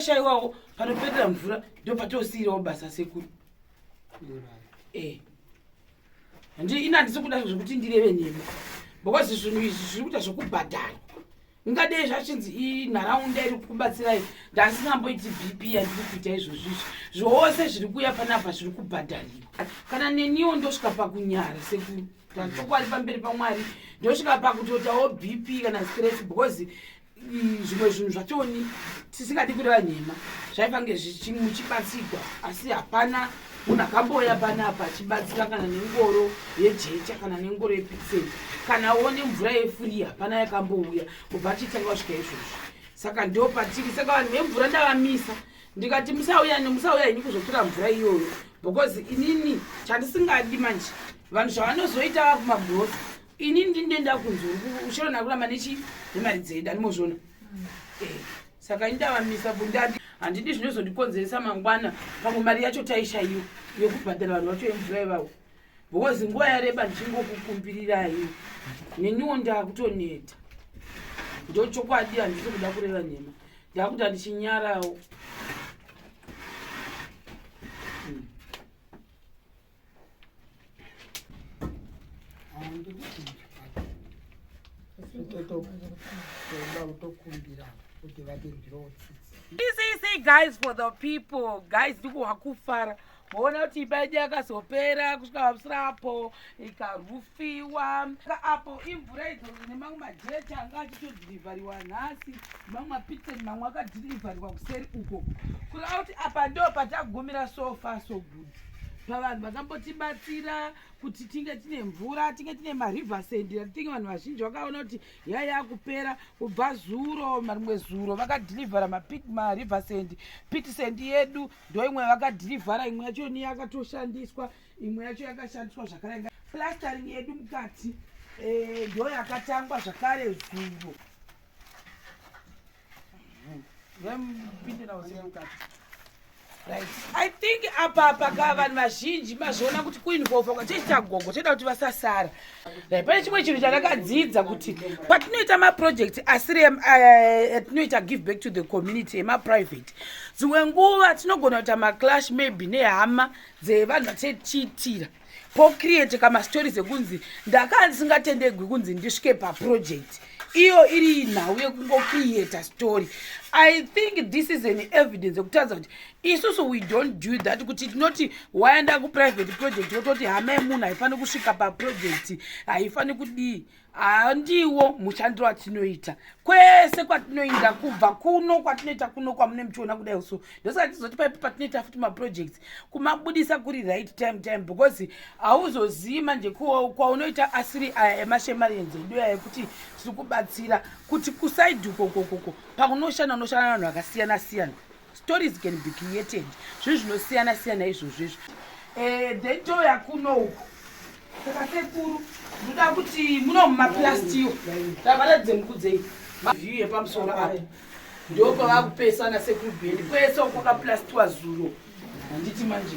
shaiwawo panoperera mvura ndopatosiirawo basa sekuru eh. handi ini handisi kuda zvekuti ndireve nhema because zvinhu izvi zviri kuita zvekubhadharwa ingadei zvachinzi inharaunda iri kubatsirai ndasikamboiti bp yandiri kuita izvozvo izvi zvose zviri kuuya panapa zviri kubhadhariwa kana neniwo ndosvika pakunyara sekuru tachokwadi pamberi pamwari ndosvika pakutotawo bp kana stress because zvimwe zvinhu zvachoni tisingadi kureva nhema zvaifange zvichimuchibatsirwa asi hapana munhu akamboya panapa achibatsira kana nengoro yejecha kana nengoro yepixen kana one mvura yefuri hapana yakambouya kubva tichitanga kusvika izvozvo saka ndo patiri saka vanhu vemvura ndavamisa ndikati musauya nemusauya henyu kuzotura mvura iyoyo because inini chandisingadi manje vanhu zvavanozoita vakumabhosa ini ndinenda kunzi ushona nakuramba nechi nemari dzeda nimozvona mm. eh, saka ini ndavamisa bundandi handidi zvinozondikonzeresa mangwana pamwe mari yacho taishaiwa yokubhadhara vanhu vacho yemvura ivavo because nguva yareba ndichingokukumbirirai neniwo ndakutoneta ndo chokwadi handisi kuda kureva nhema ndakuti handichinyarawo This is say guys for the people guys ndiko wakufara voona kuti imba yedu yakazopera kusvika pamusira apo ikarufiwa apo imvura idzo ine mamwe majecha anga achitodhirivhariwa nhasi mamwe mapitsen mamwe akadhirivhariwa kuseri uko kureva kuti apa ndo patagumira so far so good pavanhu vakambotibatsira kuti tinge tine mvura tinge tine marivasend atinge vanhu vazhinji vakaona kuti yai yakupera kubva zuro marimwe zuro vakadhirivhara marivasend pitisend yedu ndo imwe vakadhirivhara imwe yacho ni yakatoshandiswa imwe yacho yakashandiswa zvakare plastering yedu mukati eh, ndo yakatangwa zvakare zuro i think apa paka vanhu vazhinji mazviona kuti kuinvolva kwachechi chagogo choita kuti vasasara ri pane chimwe chinhu chandakadzidza kuti patinoita maproject asiri eh, atinoita give back to the community emaprivate dzimwe nguva tinogona kuita maclash maybe nehama dzevanhu vatichiitira po create kama stories ekunzi ndakaa ndisingatendegwi kunzi ndisvike pa project iyo iri nhau yekungo create story i think this is an evidence yekutaridza kuti isusu we don't do that kuti tinoti waenda ku private project wototi hama yemunhu haifaniri kusvika pa project haifaniri kudii handiwo mushandiro atinoita kwese kwatinoinda kubva kuno kwatinoita kuno kwamune muchiona kudai so ndosaka tizoti paipo patinoita futi maprojects kumabudisa kuri right time time because hauzozivi manje kwaunoita asiri aya emashemarenzi edu aya ekuti tiri kubatsira kuti kusaidhuko kokoko pakunoshanda unoshanda vanhu vakasiyana siyana stories can be created zvinhu zvinosiyana siyana izvozvo izvo eh, then touya kuno uku saka sekuru muda kuti muno mumaplastiyo tavaratidze mukudzei view yepamusoro apo ndo pava kupesana sekuru bheni kwese uko kaplastiwa zuro handiti manje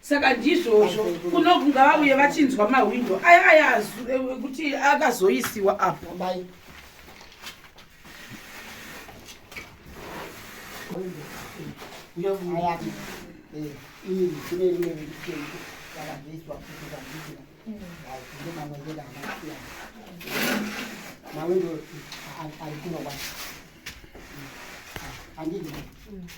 saka ndizvozvo kuno kungavauye vachinzwa mahwindo aya aya ekuti akazoisiwa apo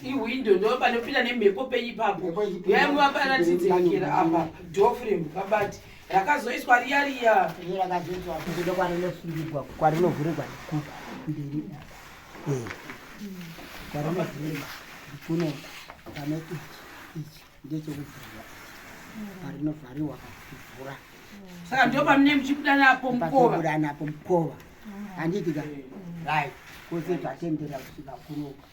ihwindo ndo panopinda nemhepo penyi papo yaimuvapanatinzekera apa dofrem kabati rakazoiswa riya riya iro rakazoiswa futi ndokwarinofungirwa kwarinovhurirwa ndikuku mberi eh. kwarinovhurirwa ndikuno pane ichi ichi ndechekuvhurwa parinovhariwa kuvhura saka ndo pamune muchibuda napo mukovabuda napo mukova handiti ka rai kose tatendera kusvika kunoka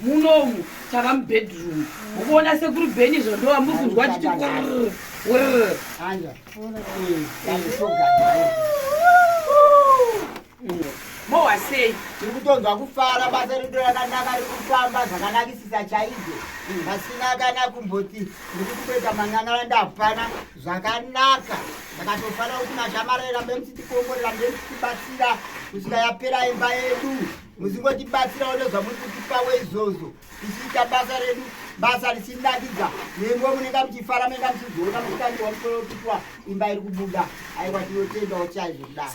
munomu tava mubedroom ukuona sekuru beni zvo ndova muri kunzwa chiti mowa sei tiri kutonzwa kufara basa redu rakanaka rikufamba zvakanakisisa chaizvo pasina kana kumboti ndiri kutoita manyanara ndapana zvakanaka ndakatofanira kuti mashamara erambe musitikomborera ndemsitibatsira kusvika yapera imba yedu muzingotibatsirawo nezvamuri kutipawo izvozvo tichiita basa redu basa richinakidza nembo munenge muchifara munenge muchizoona mutangi wamusorokitwa imba iri kubuda aiwa tinotendawo chaizvo kudai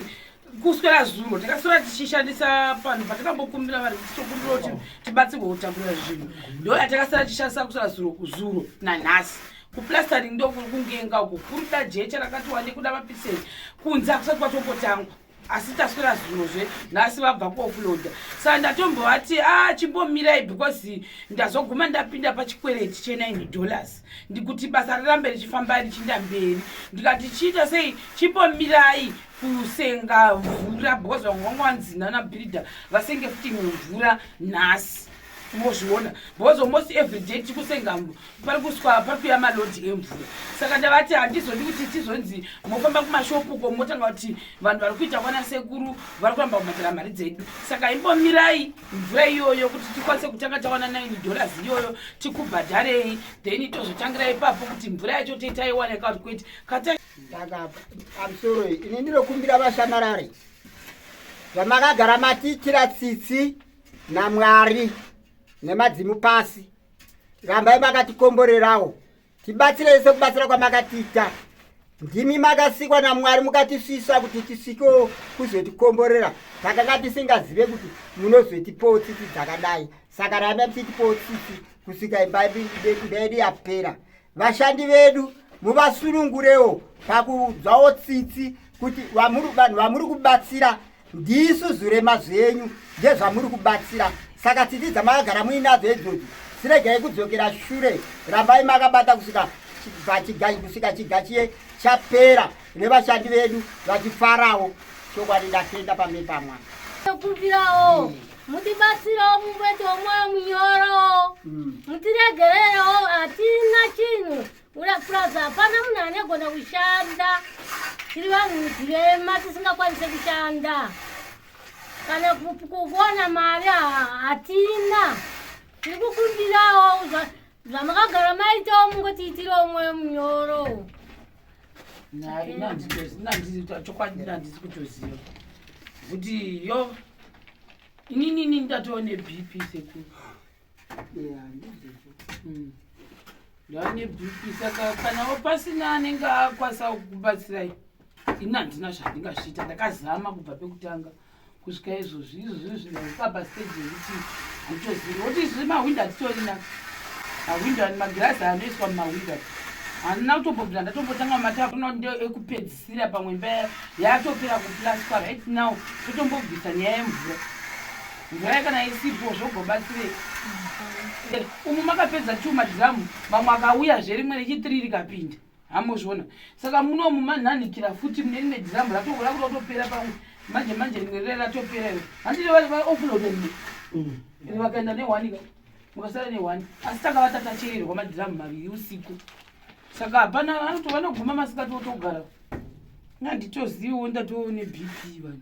kuswera zuro takaswera tichishandisa panhu patakambokumbira vanhu kuti tokumbira kuti tibatsirwe kutakura zvinhu ndo yatakasara tichishandisa kuswera zuro kuzuro nanhasi kuplastering ndokuri kungenga uko kuri da jecha rakati wande kuda mapisei kunze akusati kwatombotangwa asi taswera zvinhu zve nhasi vabva kuofuloda saka ndatombovati a ah, chimbomirai because ndazoguma ndapinda pachikwereti chenine dollars ndikuti basa rirambe richifamba richinda mberi ndikati chiita sei chimbomirai kusenga mvura because vamwe vanga vanzi nana birida vasenge futi mumvura nhasi mozviona because almost every day tikusenga pari kuswa pari kuya malodhi emvura saka ndavati handizodi kuti tizonzi mofamba kumashopu ko motanga kuti vanhu vari kuita kwana sekuru vari kuramba kubhadhara mari dzedu saka imbomirai mvura iyoyo kuti tikwanise kutanga tawana nine dollars iyoyo tikubhadharei then tozotangira ipapo kuti mvura yacho toitaiwana ikati kwete kata ndakaamusoro ini ndinokumbira vashamarari vamakagara matiitira tsitsi namwari nemadzimu pasi rambai makatikomborerawo tibatsirei sekubatsira kwamakatiita ndimi makasikwa namwari mukatisvisa kuti tisvikewo kuzotikomborera takanga tisingazive kuti munozotipowo tsitsi dzakadai saka rambai muchitipowo tsitsi kusvika imba yedu yapera vashandi vedu muvasunungurewo pakuudzwawo tsitsi kuti vanhu vamuri kubatsira ndisu zurema zvenyu ndezvamuri kubatsira saka tsitsi dzamakagara muinadzo idzodzo siregai kudzokera shure rambai makabata kusvika kusvika chigachiye chapera nevashandi vedu vachifarawo chokwadi ndatenda pamberi pamwana tokumbirawo mm. mutibatsirawo mumwete womwoyo munyoro mm. mutiregererewo hatina chinhu urapuraza hapana munhu anegona kushanda tiri vanhu mudzirema tisingakwanise kushanda kana kuona mari hatina tiri kukumbirawo zvamakagara maitawo mungotiitirawo mwoyo munyoro chokwadi nandisi kutoziva kuti yo inini ini ndatova nebp sekuru hmm. ndava nebp saka kanawo pasina anenge akwasa kubatsirai ini handina zvandingazviita ndakazama kubva pekutanga kusvika izvozvi izvozvi zvinapapa stage yekuti handitozivi woti izvozvi mahwindo hatitorina mahwindo ani magirazi anoiswa mumahwindo handina kutombobvira ndatombotanga matavno ndo ekupedzisira pamwe mba yatopera kuplaswa right now totombobvisa nyaya yemvura mvura kana isipo zvogobatsirei umu makapedza two madhiramu mamwe akauya zverimwe rechitiri rikapinda hamuzviona saka munomu manhanikira futi munenine dhirambu ratoko rakuda kutopera pamwe manje manje rimwe rire ratopera iro handiti vaofuloda rimwe mm. ri vakaenda nehwani ka mukasara nehwani asi tanga vatatachererwa madhiramu maviri usiku saka hapana anoti vanoguma masikati otogara nganditoziviwo ndatoone bp vanhu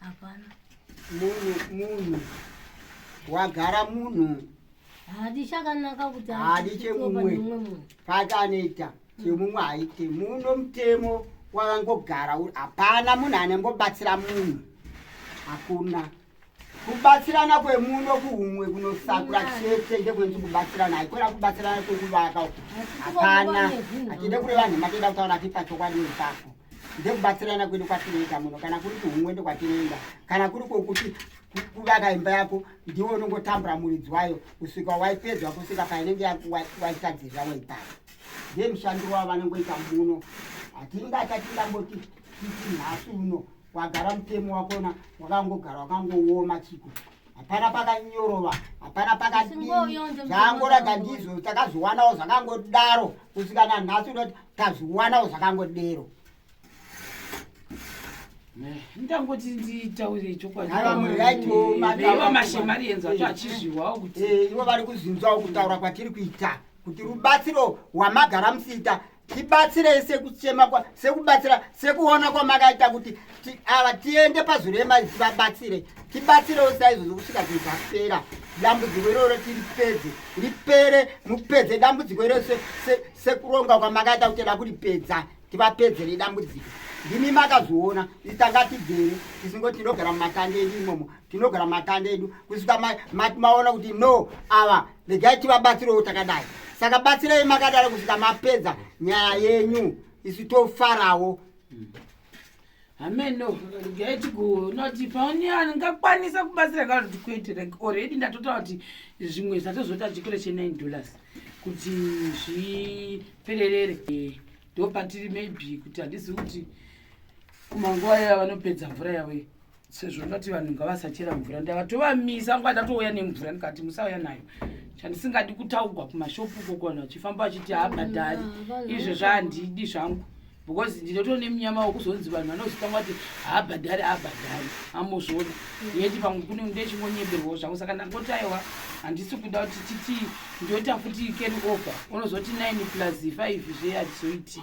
hapana munhu munhu wagara munhu hadi chakanaka kuti hadi chemumwe pati anoita chemumwe haite muno mutemo wakangogara hapana munhu anengobatsira munhu hakuna kubatsirana kwemuno kuhumwe kunosakura chete ndekwenzi kubatsirana haikona kubatsirana kwekuvaka hapana hatide kureva nhema toda kutaura tipa chokwadi ipapo ndekubatsirana kwedu kwatinoita muno kana kuri kuhumwe ndokwatinoenda kana kuri kwokuti kuvaka imba yako ndiwo unongotambura muridzi wayo kusvika waipedzwa kusvika painenge waitadzirira waipara ndiye mushandiro wavo vanongoita muno hatingatati ndamboti titi nhasi uno wagara mutemo wakona wakangogara wakangooma chiko hapana pakanyorova hapana pakadii zvaangoraga ndizvo takazviwanawo zvakangodaro kusvika nanhasi unoti tazviwanawo zvakangodero ndangoti nditaure chokwadimashemari enzo acho achizviwawo kuti eh, ivo vari kuzinzawo kutaura kwatiri kuita kuti rubatsiro hwamagara musiita tibatsirei sekuchema kwa sekubatsira sekuona kwamakaita kuti ti, ava tiende pazwi rema vabatsire tibatsirewo saizvozvo kusvika zvinhu zvapera dambudziko iroro tiripedze ripere mupedze dambudziko iroro sekuronga se, se kwamakaita kuti da kuripedza tivapedzere dambudziko ndimi makazviona itanga tigere tisingoti tinogara mumatande edu imomo tinogara matanda edu kusvika maona kuti no ava regai tivabatsirewo takadai saka batsirei makadaro kusvika mapedza nyaya yenyu isu tofarawo hameno regai tigoona kuti paoni angakwanisa kubatsira kana kuti kwete like already ndatotaura kuti zvimwe zvatozota chikoro chenine dollars kuti zvipererere ndopatiri maybe kuti handisi kuti kumanguva yaya vanopedza mvura yavo sezvo ndati vanhu ngavasachera mvura ndakatovamisa nguva ndatouya nemvura ndikati musauya nayo chandisingadi kutaugwa kumashopu koko vanhu vachifamba vachiti haabhadhari ah, izvo zvaandidi zvangu because ndinoto nemunyama wekuzonzi vanhu vanozotanga kuti haabhadhari haabhadhari amozvona mm. yeti pamwe kune ndechingonyeberwawo zvangu saka ndangoti aiwa handisi kuda kuti titi ndoita futi keri over unozoti nine plus five zve hatizoiti